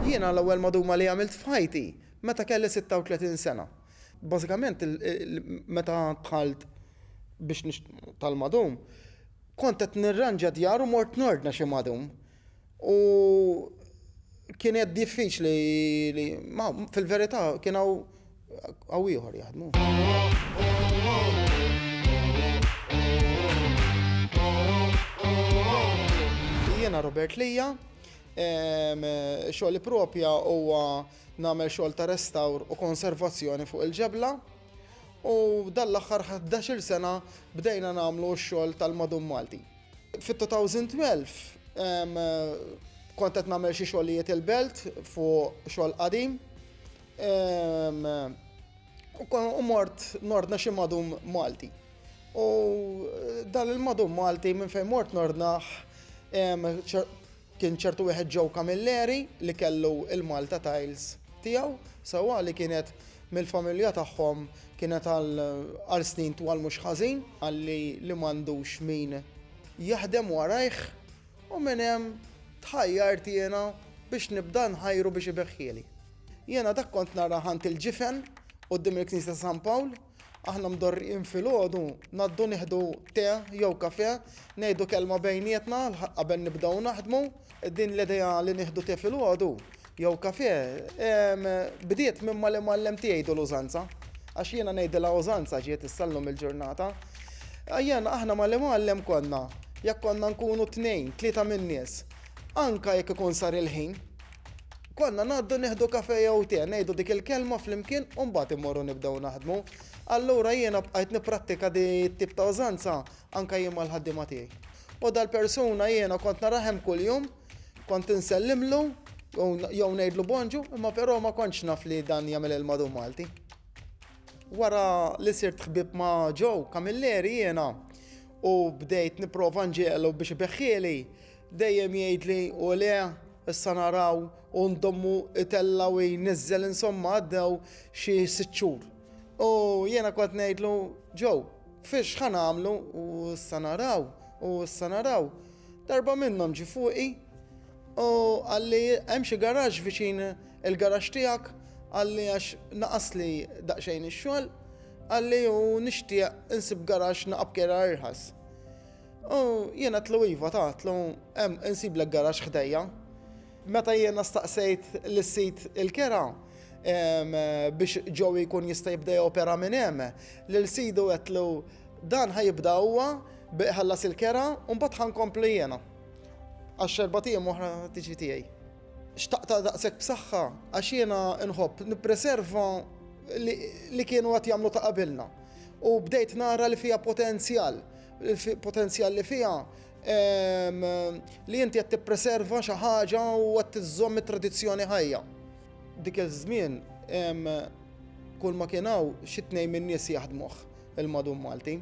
Jiena l-ewwel maduma li għamilt f'ħajti meta kelli 36 sena. Bażikament meta dħalt biex tal-madum, kont qed nirranġa djar u mort nordna xi madum. U kienet diffiċli li fil-verità kien hawn Għaw ieħor jaħdmu. Jiena Robert Lija, xogħol propja huwa nagħmel xogħol ta' restawr u konservazzjoni fuq il-ġebla. U dan l-aħħar 11 sena bdejna nagħmlu x-xogħol tal-madum Malti. Fit-2012 kont qed nagħmel xi xogħlijiet il-belt fuq xogħol qadim U mort nordna xi madum Malti. U dan il-madum Malti minn fejn mort nordnaħ kien ċertu wieħed ġew Camilleri li kellu il-Malta Tiles tiegħu sewwa li kienet mill-familja tagħhom kienet għal snin twal mhux ħażin għalli li m'għandux min jaħdem warajh. U minn hemm tħajjart jiena biex nibda nħajru biex ibeħħieli. Jiena dak kont nara ħant il-ġifen quddiem il-knisja ta' San Pawl, aħna mdorrijin filgħodu ngħaddu nieħdu te jew kafè, ngħidu kelma bejnietna qabel nibdew naħdmu, din l-idea li nieħdu te filgħodu jew kafè, bdiet minn mal-imgħallem tiegħi jgħidu l-użanza. Għax jiena ngħidilha użanza ġiet issa llum il-ġurnata. Ejjen aħna mal-imgħallem konna, jekk konna nkunu tnejn, tlieta min-nies, anke jekk ikun sar il-ħin, konna ngħaddu nieħdu kafè jew te, ngħidu dik il-kelma flimkien u mbagħad immorru nibdew naħdmu. Allura jiena bqajt nipprattika di t-tip ta' użanza anke jien mal-ħaddiema tiegħi. U dal-persuna jiena kont narah hemm kuljum, Kont insellimlu jew ngħidlu bonġu, imma però ma kontx naf li dan jagħmel il-madu Malti. Wara li sirt ħbib ma' Joe Camilleri jiena u bdejt nipprova nġielu biex ibeħħieli, dejjem jgħidli u le issa naraw u ndommu itella u jniżżel insomma għaddew xi sitt xhur. U jiena kont ngħidlu Joe, fiex ħa nagħmlu u issa naraw u issa naraw. Darba minnhom ġie fuqi u qalli hemm xi garaxx viċin il-garaxx tiegħek, qalli għax naqasli daqsxejn ix-xogħol, qalli u nixtieq insib garaxx naqa' b'kejla irħas. U jien għedtlu iva ta għedtlu hemm insiblek garaxx ħdejja. Meta jiena staqsejt lis-sid il-kera biex Joey jkun jista' jibda jopera minn hemm, lil sidu għedtlu dan ħa jibda huwa bi iħallas il-kera u mbagħad ħa nkompli jiena. Għax erbgħat ijiem oħra tiġi tiegħi. Xtaqtha daqshekk b'saħħa għax jiena nħobb nippreserva li kienu qed jagħmlu ta' qabilna u bdejt nara li fiha potenzjal, potenzjal li fiha Li inti qed tippreserva xi ħaġa u qed iżżomm it-tradizzjoni ħajja. Dik iż-żmien kull ma kien hawn xi tnejn min-nies jaħdmuh il-madum Malti.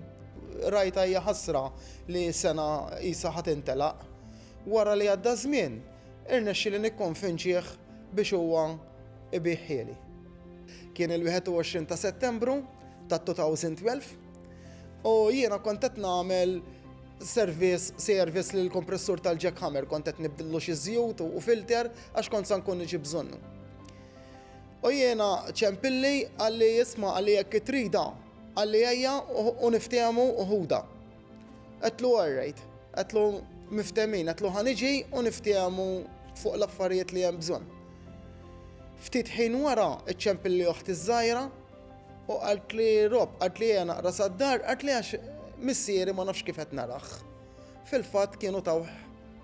Rajtha hija ħasra li sena qisha ħa tintelaq. Wara li għadda żmien, irnexxieli nikkonvinċih biex huwa ibigħ ħieli. Kien il-21 ta' Settembru ta' 2012 u jiena kont qed nagħmel service service li l-kompressur tal-jackhammer kont qed nibdillu xi żjut u filter għax kont sa nkun niġi bżonnu. U jiena ċempilli għalli jisma għalli jekk itrida għalli ejja u niftehmu uħuda. Għetlu għarrejt, għetlu miftemin, għetlu ħaniġi u niftehmu fuq l-affarijiet li hemm bżonn. Ftit ħin wara iċċempilli oħti żgħira U qaltli Rob, qaltli ejja naqra sad-dar, qaltli għax missieri ma nafx kif qed narah. Fil-fatt kienu tawh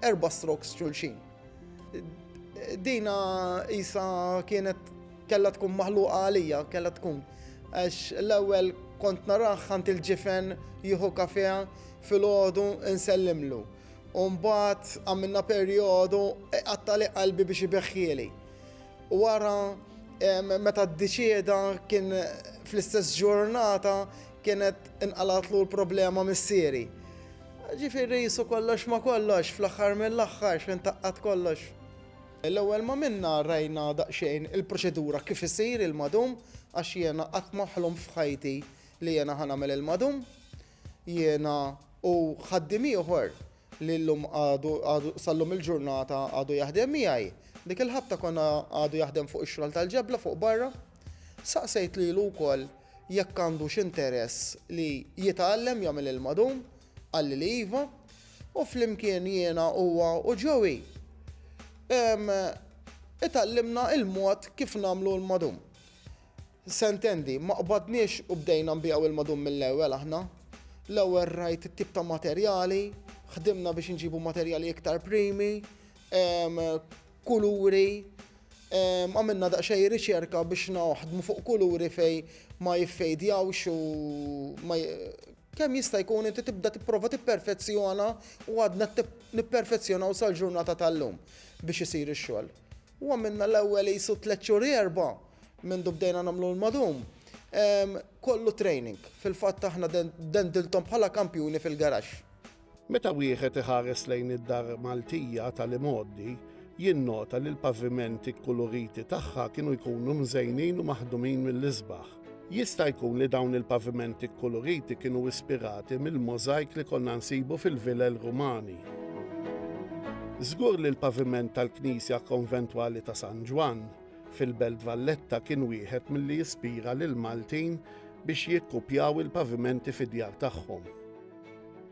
erba' strokes xulxin. Dina isa kienet kellha tkun maħluqa għalija, kellha tkun. Għax l-ewwel kont narah għand il-ġifen jieħu kafè filgħodu nsellimlu. U mbagħad għamilna perjodu iqattali qalbi biex ibeħħieli. Wara meta ddiċieda kien fl-istess ġurnata kienet inqalgħatlu l-problema missieri. Ġifieri qisu kollox ma' kollox fl-aħħar mill-aħħar x'ħin taqqad kollox. L-ewwel ma minna rajna daqsxejn il-proċedura kif isir il-madum għax jiena qatt ma ħlomt f'ħajti li jiena ħa nagħmel il-madum. Jiena u ħaddiem ieħor. li llum għadu, għadu, sal-lum il-ġurnata għadu jaħdem miegħi. Dik il-ħabta konna għadu jaħdem fuq ix-xogħol tal-ġebla fuq barra. Saqsejt lilu wkoll jekk għandu x'interess li jitgħallem jagħmel il-madum, qalli li iva, u flimkien jiena huwa u Joey itgħallimna il-mod kif nagħmlu l-madum. Se ntendi, ma qbadniex u bdejna nbiegħu il-madum mill-ewwel aħna. L-ewwel rajt it-tip ta' materjali, ħdimna biex inġibu materjali iktar primi, kuluri, għamilna daqsxejn riċerka biex naħdmu fuq kuluri fejn ma jiffejdjawx u ma kemm jista' jkun inti tibda tipprova tipperfezzjona u għadna qed nipperfezzjonaw sal-ġurnata tal-lum biex isir ix-xogħol. U għamilna l-ewwel qisu tliet xhur erba' mindu bdejna nagħmlu l-madum. Kollu training. Fil-fatt aħna dendilthom bħala kampjuni fil-garaxx. Meta wieħed iħares lejn id-dar Maltija tal-imgħoddi, jinnota li l-pavimenti kkuluriti tagħha kienu jkunu mżejnin u maħdumin mill-isbaħ. Jista' jkun li dawn il-pavimenti kkuluriti kienu ispirati mill-możajk li konna nsibu fil-vilel Rumani. Żgur li l-paviment tal-knisja konventwali ta' San Ġwann fil-Belt Valletta kien wieħed milli jispira lill-Maltin biex jikkupjaw il-pavimenti fid-djar tagħhom.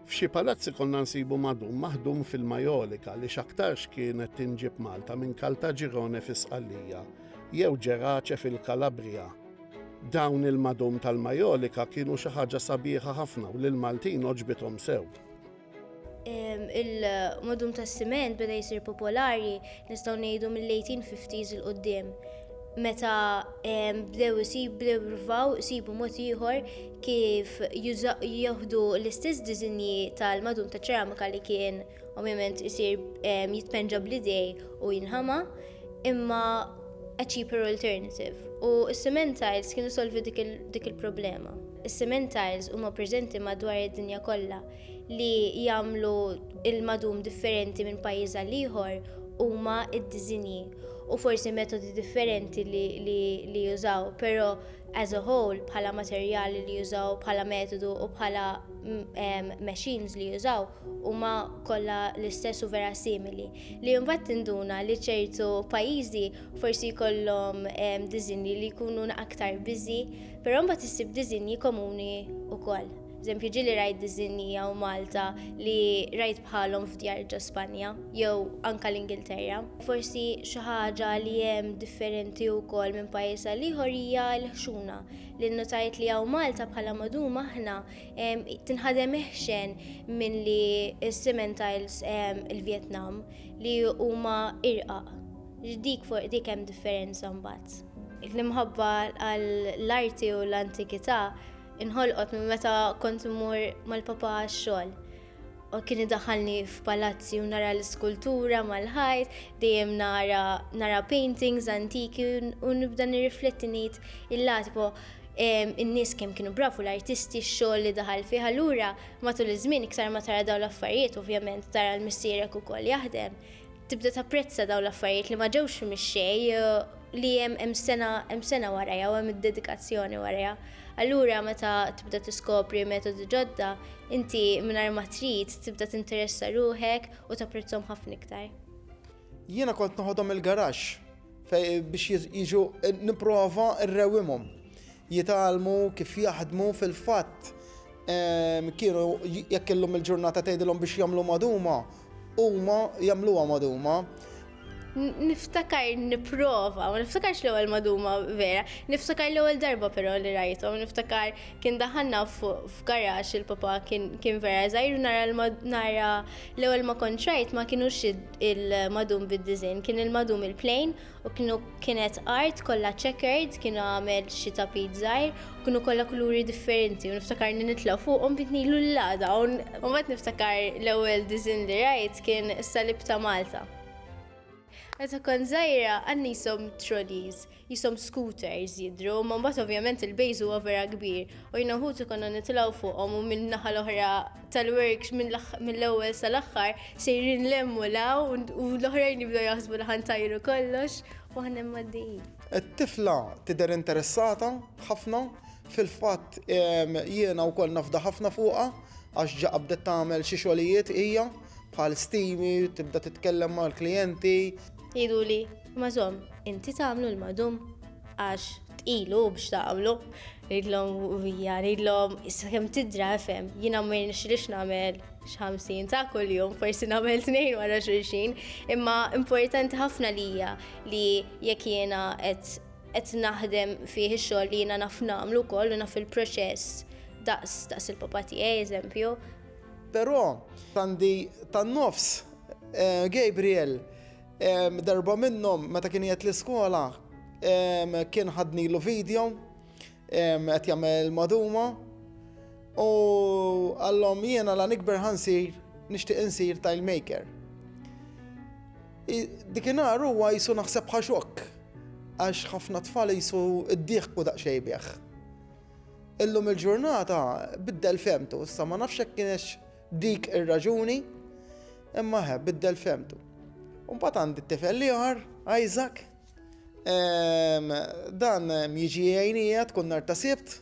F'xi palazzi konna nsibu madum maħdum fil-majolika li x'aktarx kienet tinġieb Malta minn Kaltaġirone fi Sqallija, jew Ġerace fil-Kalabrija. Dawn il-madum tal-Majolika kienu xi ħaġa sabiħa ħafna u lill-Maltin għoġbithom sew il-modum tas siment beda jisir popolari nistgħu ngħidu mill-1850s il qudiem meta bdew isib bdew jirvaw isibu mod ieħor kif jieħdu l-istess diżinji tal-madum ta' ċeramika li kien Ovvjament isir jitpenġa bl-idej u jinħama, imma a cheaper alternative. U s-cement tiles kienu solvi dik il-problema. Is-cement tiles huma preżenti madwar id-dinja kollha li jagħmlu il-madum differenti minn pajjiż għal ieħor huma d-diżinji u forsi metodi differenti li jużaw, però as a whole bħala materjali li jużaw, bħala metodu u bħala machines li jużaw, huma kollha l-istess u vera simili, li mbagħad tinduna li ċertu pajjiżi forsi jkollhom ehm, diżinji li jkunu aktar biżi, però mbagħad issib diżinji komuni wkoll. Eżempju, ġieli rajt diżinji hawn Malta li rajt bħalhom f'djar ġo Spanja jew anke l-Ingilterra. Forsi xi ħaġa li hemm differenti wkoll minn pajjiż għal ieħor hija l-ħxuna li nnutajt li hawn Malta bħala madum aħna Tinħadem iħxen minn li s-cement tiles il-Vietnam li huma irqaq. Dik fuq dik hemm differenza mbagħad. L-imħabba għall-arti u l-antikità inħolqot minn meta kont immur mal-papa għax-xogħol. u kien idaħħalni f'palazzi u nara l-iskultura mal-ħajt, dejjem nara nara paintings antiki u nibda nirrifletti ngħid il-latbo in-nies kemm kienu bravu l-artisti x-xogħol li daħal fih allura matul iż-żmien iktar ma tara dawn l-affarijiet ovvjament tara l-missierek ukoll jaħdem tibda tapprezza dawn l-affarijiet li ma ġewx mix-xejn li hemm hemm sena hemm sena warajha u hemm id-dedikazzjoni warajha. Allura meta tibda tiskopri metodi ġodda, inti mingħajr ma trid tibda tinteressa ruħek u tapprezzhom ħafna iktar. Jiena kont noħodhom il-garaxx biex jiġu nipprova rrewwimhom. jitgħallmu kif jaħdmu, fil-fatt kienu jekk illum il-ġurnata tgħidilhom biex jagħmlu magħduma, huma jagħmluha magħduma. Niftakar nipprova, ma niftakarx l-ewwel magħduma vera, niftakar l-ewwel darba però li rajthom, niftakar kien daħanna f'garax il-papa kien vera żgħir nara l-ewwel ma kont rajt ma kienux il-magħdum bid-diżinn, kien il-magħdum il-plejn u kienu kienet art kollha checkered, kienu għamel xi tapit żgħir, u kienu kollha kuluri differenti, u niftakar li nitla' fuqhom bint nilu l-lada, u mbagħad niftakar l-ewwel diżin li rajt kien is-salib ta' Malta. Meta kont żgħira għandna qishom trolleys, qishom scooters jidhru, imma mbagħad ovvjament il-base huwa vera kbir, u jiena u ħuti konna nitilgħu fuqhom u min-naħa l-oħra tal-works mill-ewwel sal-aħħar sejrin lemmu law u l-oħrajn jibdew jaħsbu li ħantajru kollox u aħna mgħaddejjin. It-tifla tidher interessata ħafna, fil-fatt jiena wkoll nafda ħafna fuqha għax ġa qabdet tagħmel xi xogħlijiet hija bħal stimi, tibda titkellem mal-klijenti. Jgħiduli Ma zom, inti tagħmlu l-madum għax tqilu biex tagħmlu. Ridlhom vija, ridlhom issa kemm tidra fem, jiena ma jirnexxilix nagħmel x'ħamsin ta' kuljum, forsi nagħmel tnejn wara xulxin, imma importanti ħafna lija li jekk jiena qed naħdem fih ix-xogħol li jiena naf nagħmlu wkoll u naf il-proċess daqs daqs il-papa tiegħi eżempju. Però għandi tan-nofs eh, Gabriel Darba minnhom meta kien qiegħed l-iskola kien ħadnilu video qed jagħmel maduma u għallhom jiena la nikber ħansir nixtieq insir tile maker. Dikinhar huwa jisu naħseb ħaxok għax ħafna tfal jisu id-dieħku daqsxejn bih. Illum il-ġurnata biddel femtu, issa ma nafx hekk kienx Dik ir-raġuni, imma he biddel fehmtu. U mbagħad għandi t-tifel l-ieħor, Isaac, ehm, dan ehm, jiġi għajnija tkun nar ta' sibt,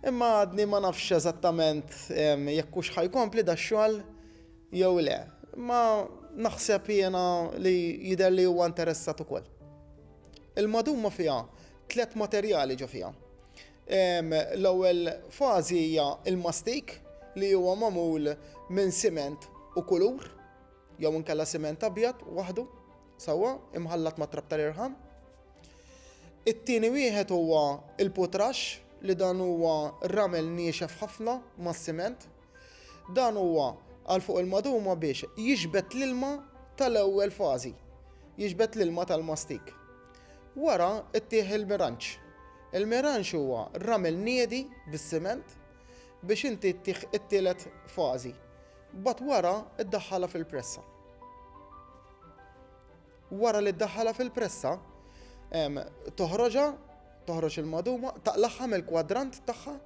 imma għadni ma nafx eżattament ehm, jekk hux ħajkompli da xogħol jew le. Imma naħseb jiena li jidher li huwa interessat ukoll. Il-maduma fiha tliet materjali ġo fiha. L-ewwel fażi hija l-mastik li huwa magħmul minn siment u kulur jew inkella siment abjad waħdu sewwa imħallat ma' trab tal-irħam. It-tieni wieħed huwa l-putrax li dan huwa ramel niexef ħafna mas-siment. Dan huwa għal fuq il-maduma biex jixbet l-ilma tal-ewwel fażi, jixbet l-ilma tal-mastik. Wara ttieħ il-miranġ. Il-miranġ huwa ramel niedi bis-siment biex inti ttieħ it-tielet fażi. Mbagħad wara ddaħħalha fil-pressa. Wara li ddaħħalha fil-pressa, toħroġha, toħroġ il-maduma, taqlagħha mill-kwadrant tagħha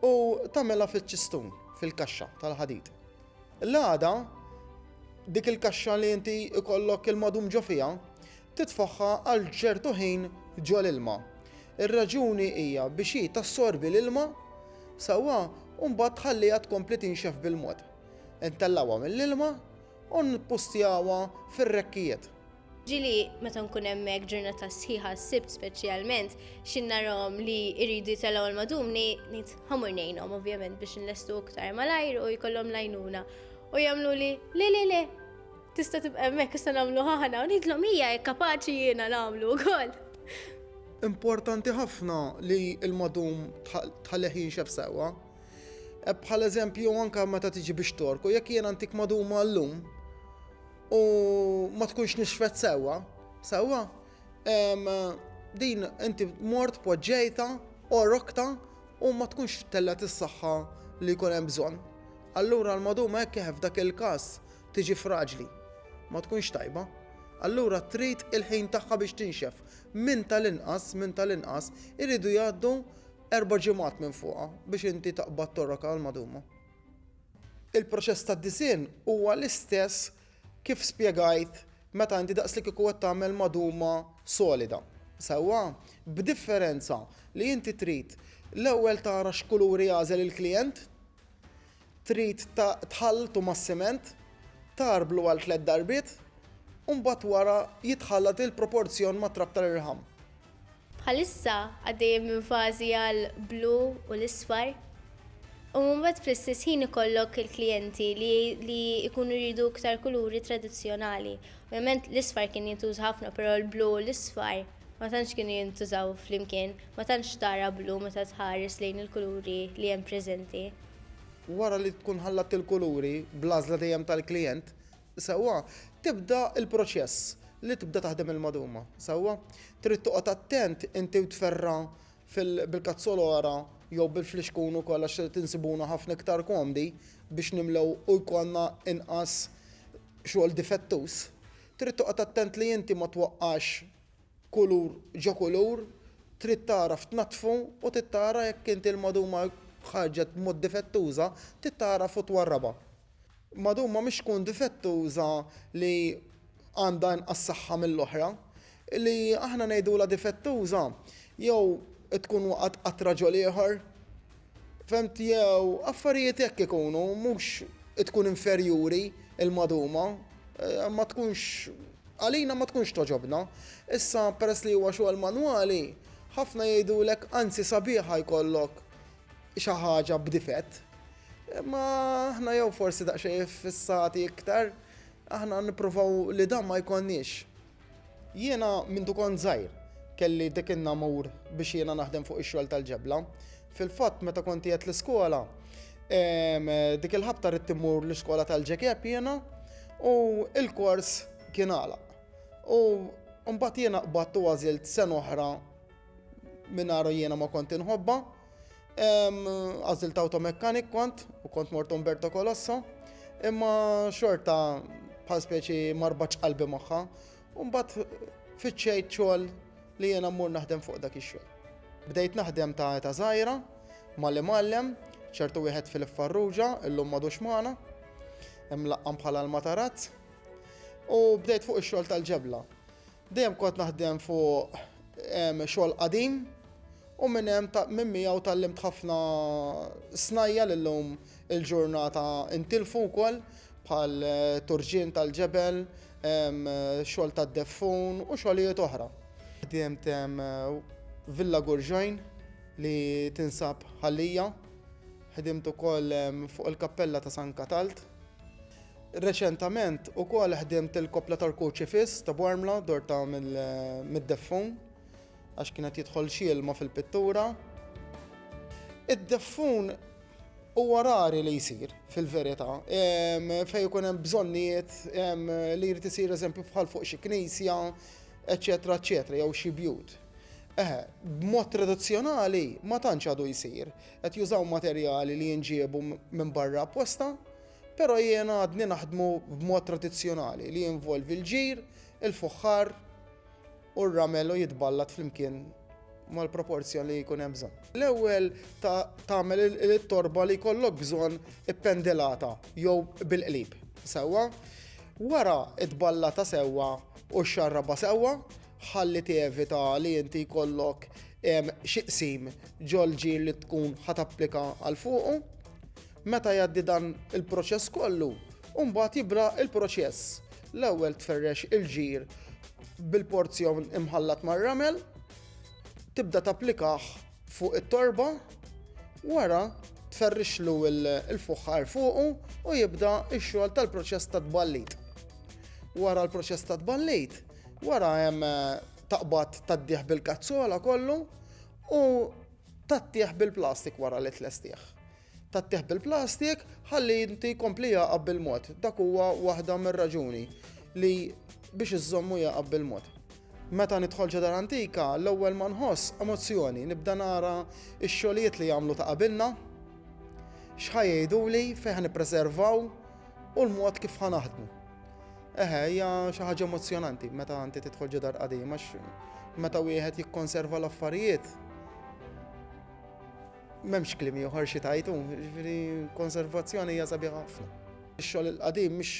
u tagħmilha fiċ-ċistun, fil-kaxxa tal-ħadid. L-għada, dik il-kaxxa li inti jkollok il-madum ġo fiha, titfagħha għal ċertu ħin ġo l-ilma. Ir-raġuni hija biex hi tassorbi l-ilma sewwa u mbagħad tħalliha tkompli tinxef bil-mod. Intellgħuha mill-ilma u npustjawha fir-rekkijiet. Ġieli meta nkun hemmhekk ġurnata sħiħa s-Sibt speċjalment, xi narahom li jridu jitellgħu l-madumni, ngħid ħamur ngħinhom ovvjament biex inlestu iktar malajr u jkollhom l-għajnuna. U jagħmluli le le le, tista' tibqa' hemmhekk issa nagħmlu aħna u ngħidlhom hija jekk kapaċi jiena nagħmlu wkoll. Importanti ħafna li l-madum tħallih jinxef sewwa. Bħal eżempju anke meta tiġi biex torku, jekk jiena ntik maduma llum, u ma tkunx nixfet sewwa, sewwa, din inti mort poġġejta u rokta u ma tkunx tellet is-saħħa li jkun hemm bżonn. Allura l-maduma hekk kif f'dak il-każ tiġi fraġli, ma tkunx tajba. Allura trid il-ħin tagħha biex tinxef. Minn tal-inqas, minn tal-inqas, iridu jgħaddu erba' ġimgħat minn fuqha biex inti taqbad torroka l-maduma. Il-proċess tad-disinn huwa l-istess kif spjegajt meta inti daqslikieku qed tagħmel magħduma solida. Sewwa? B'differenza li inti trid l-ewwel tara x'kuluri għażel il-klijent, trid tħalltu mas-siment, tgħarblu għal tliet darbiet, u mbagħad wara jitħallat il-proporzjon mat-trab tal-irħam. Bħalissa għaddejjin minn fażi għal blu u l-isfar. U mbagħad fl-istess ħin ikollok il-klijenti li li jkunu jridu iktar kuluri tradizzjonali. Ovvjament l-isfar kien jintuża ħafna però l-blu u l-isfar ma tantx kienu jintużaw flimkien, ma tantx tara blu meta tħares lejn il-kuluri li hemm preżenti. Wara li tkun ħallat il-kuluri bl-għażla dejjem tal-klijent, Sewwa, tibda l-proċess li tibda taħdem il-maduma. Sewwa? Trid toqgħod attent inti u tferra' bil-kazzolora jew bil-flixkun ukoll għax irid insibuna ħafna iktar komdi biex nimlew u jkollna inqas xogħol difettuż. Trid toqgħod attent li inti ma twaqqax kulur ġo kulur, trid tagħraf tnaddfu u trid tara jekk inti l-maduma ħarġet b'mod difettuża, trid tagħraf u twarrabha. Madumma mhix tkun difettuża li għandha inqas saħħa mill-oħra. Li aħna ngħidulha difettuża jew tkun waqgħet qatt raġel ieħor. Fhemt jew affarijiet hekk ikunu mhux tkun inferjuri l-maduma eh, ma tkunx għalina ma tkunx toġobna. Issa peress li huwa xogħol manwali, ħafna jgħidulek anzi sabiħa jkollok xi ħaġa b'difett. Imma aħna jew forsi daqsxejn fissati iktar, aħna nippruvaw li dan ma jkollniex. Jiena minn dukon żgħir kelli dik in-namur biex jiena naħdem fuq ix-xogħol tal-ġebla. Fil-fatt meta kont qiegħed l-iskola, dik il-ħabta ridt immur l-iskola tal-ġekeb jiena u l-kors kien għalaq. U mbagħad jiena qbadt u għażilt sena oħra minnaru jiena ma kont inħobba. Għazil ta' automekanik kont u kont mort Umberto Colosso. Imma xorta bħal speċi marbaċ qalbi maħħa. Umbat fitxejt xogħol li jiena mmur naħdem fuq dak ix-xogħol. Bdejt naħdem ta' eta zaħira, malli mallem, ċertu wieħed fil-farruġa, illum madux maħna, imlaqqam bħala l-matarazz, u bdejt fuq ix-xogħol tal-ġebla. Dejjem kont naħdem fuq xogħol qadim u minn hemm minn miegħu tallimt ħafna snajja li llum il-ġurnata intilfu wkoll bħal turġien tal-ġebel, xogħol tad-deffun u xogħlijiet oħra. Ħdimt Villa Gurġajn li tinsab Ħal Lija, ħdimt ukoll fuq il-Kappella ta' San Katald. Reċentament ukoll ħdimt il-koppla ta' rkuċ ifiss ta' Bormla dorta mid-deffun għax kien qed jidħol xi ilma fil-pittura. Id-deffun huwa rari li jsir fil-verità fejn ikun hemm bżonnijiet li jrid isir eżempju bħal fuq xi knisja, eċċetera eċċetera jew xi bjut. Eħe, b'mod tradizzjonali ma tantx għadu jsir. Qed jużaw materjali li jinġiebu minn barra apposta, però jien għadni naħdmu b'mod tradizzjonali li jinvolvi l-ġir, il-fuħħar u r-ramel u jitballat flimkien mal-proporzjon li jkun hemm bżonn. L-ewwel tagħmel it-torba li jkollok bżonn ippendilata jew bil-qlib sewwa, wara tballata sewwa u xxarrabha sewwa, ħalli tevita li inti jkollok xi qsim ġol-ġir li tkun ħa tapplika għal fuqu. Meta jgħaddi dan il-proċess kollu, mbagħad jibra il-proċess. L-ewwel tferrex il-ġir bil-porzjon imħallat mar-ramel, tibda tapplikah Fuq it-torba, wara tferrixlu l-fuħħar fuqu u jibda x-xogħol tal-proċess ta' tballit. Wara l-proċess ta' tballit, wara hemm taqbad tad-dieħ bil-kazzola kollu u tat-tieħ bil-plastik wara li tlestih. Tgħattih bil-plastik ħalli inti jkompli jagħqab bil-mod. Dak huwa waħda mir-raġuni li biex iżżommu jagħqab bil-mod. Meta nidħol ġo dar antika, l-ewwel ma nħoss emozzjoni, nibda nara x-xogħlijiet li jagħmlu ta' qabilna, x'ħa jgħiduli, fejn ħa nippreservaw u l-mod kif ħa naħdmu. Eħe, hija xi ħaġa emozzjonanti meta inti tidħol ġo dar qadima, meta wieħed jikkonserva l-affarijiet. M'hemmx kliem ieħor xi tgħid hu, jiġifieri konservazzjoni hija sabiħa ħafna. Ix-xogħol il-qadim mhux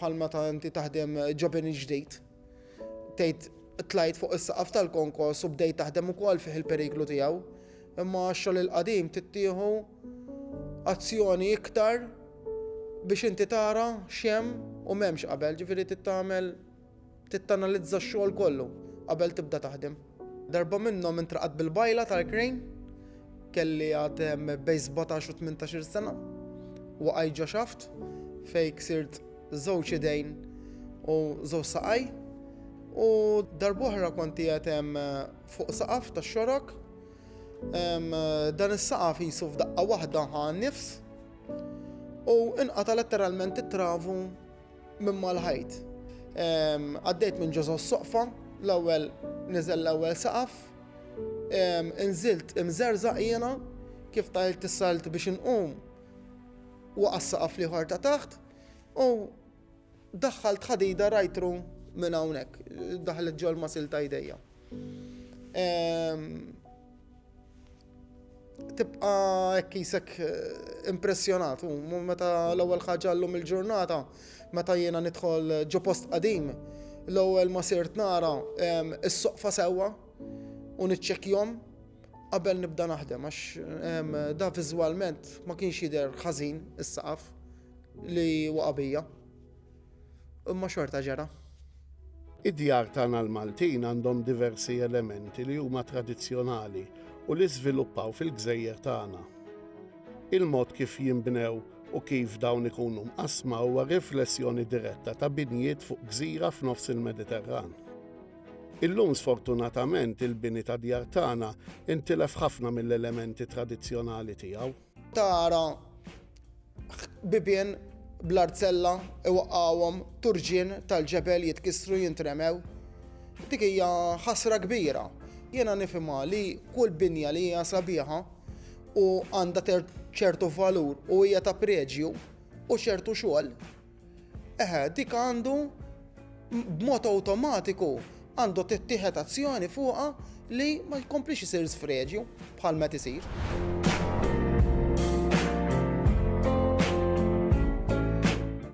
bħal meta inti taħdem ġobin il-ġdid. Tgħid tlajt fuq is-saqaf tal-konkos u bdejt taħdem ukoll fih il-periklu tiegħu, imma x-xogħol il-qadim tittieħu azzjoni iktar biex inti tara x'hemm u m'hemmx qabel, ġifieri tittamel Trid tanalizza x-xogħol kollu qabel tibda taħdem. Darba minnhom intraqat bil-bajla tal-krejn. Kelli għad bejn sbatax u tmintax-il sena. Waqajt ġo xaft fejn ksirt żewġ idejn u żewġ saqaj. U darb'oħra kont qiegħed fuq saqaf tax-xorok. Dan is-saqaf qisu f'daqqa waħda ħa n-nifs u inqata' letteralment it-travu. Minn mal-ħajt. Għaddejt minn ġożo s-soqfa, l-ewwel niżel l-ewwel saqaf, inżilt imżerżaq jiena, kif tajlt is-salt biex inqum waqa' s-saqaf l-ieħor ta' taħt u daħħalt ħadida rajtru minn hawnhekk, daħlet ġol masil ta' jdejja. Tibqa hekk isek eh, impressjonat u meta l-ewwel ħaġa llum il-ġurnata meta jiena nidħol ġo post qadim l-ewwel ma sirt nara is-soqfa sewwa u niċċekkjom qabel nibda naħdem għax da viżwalment ma kienx jidher ħażin is-saqaf li waqabija. Imma xorta ġara. Id-djar tagħna l-Maltin għandhom diversi elementi li huma tradizzjonali u li żviluppaw fil-gżejjer tagħna. Il-mod kif jinbnew u kif dawn ikunu mqassma huwa riflessjoni diretta ta' binjiet fuq gżira f'nofs il-Mediterran. Illum sfortunatament il-bini tad-djar tagħna intilef ħafna mill-elementi tradizzjonali tiegħu. Tara bibien bl-arzella iwaqqgħuhom turġien tal-ġebel jitkissru jintremew. Dik hija ħasra kbira. Jiena nifhimha li kull binja li hija sabiħa u għandha ċertu valur u hija ta' preġju u ċertu xogħol Eħe, dik għandu b'mod awtomatiku għandu tittieħed azzjoni fuqha li ma jkomplix isir sfreġju bħal met isir.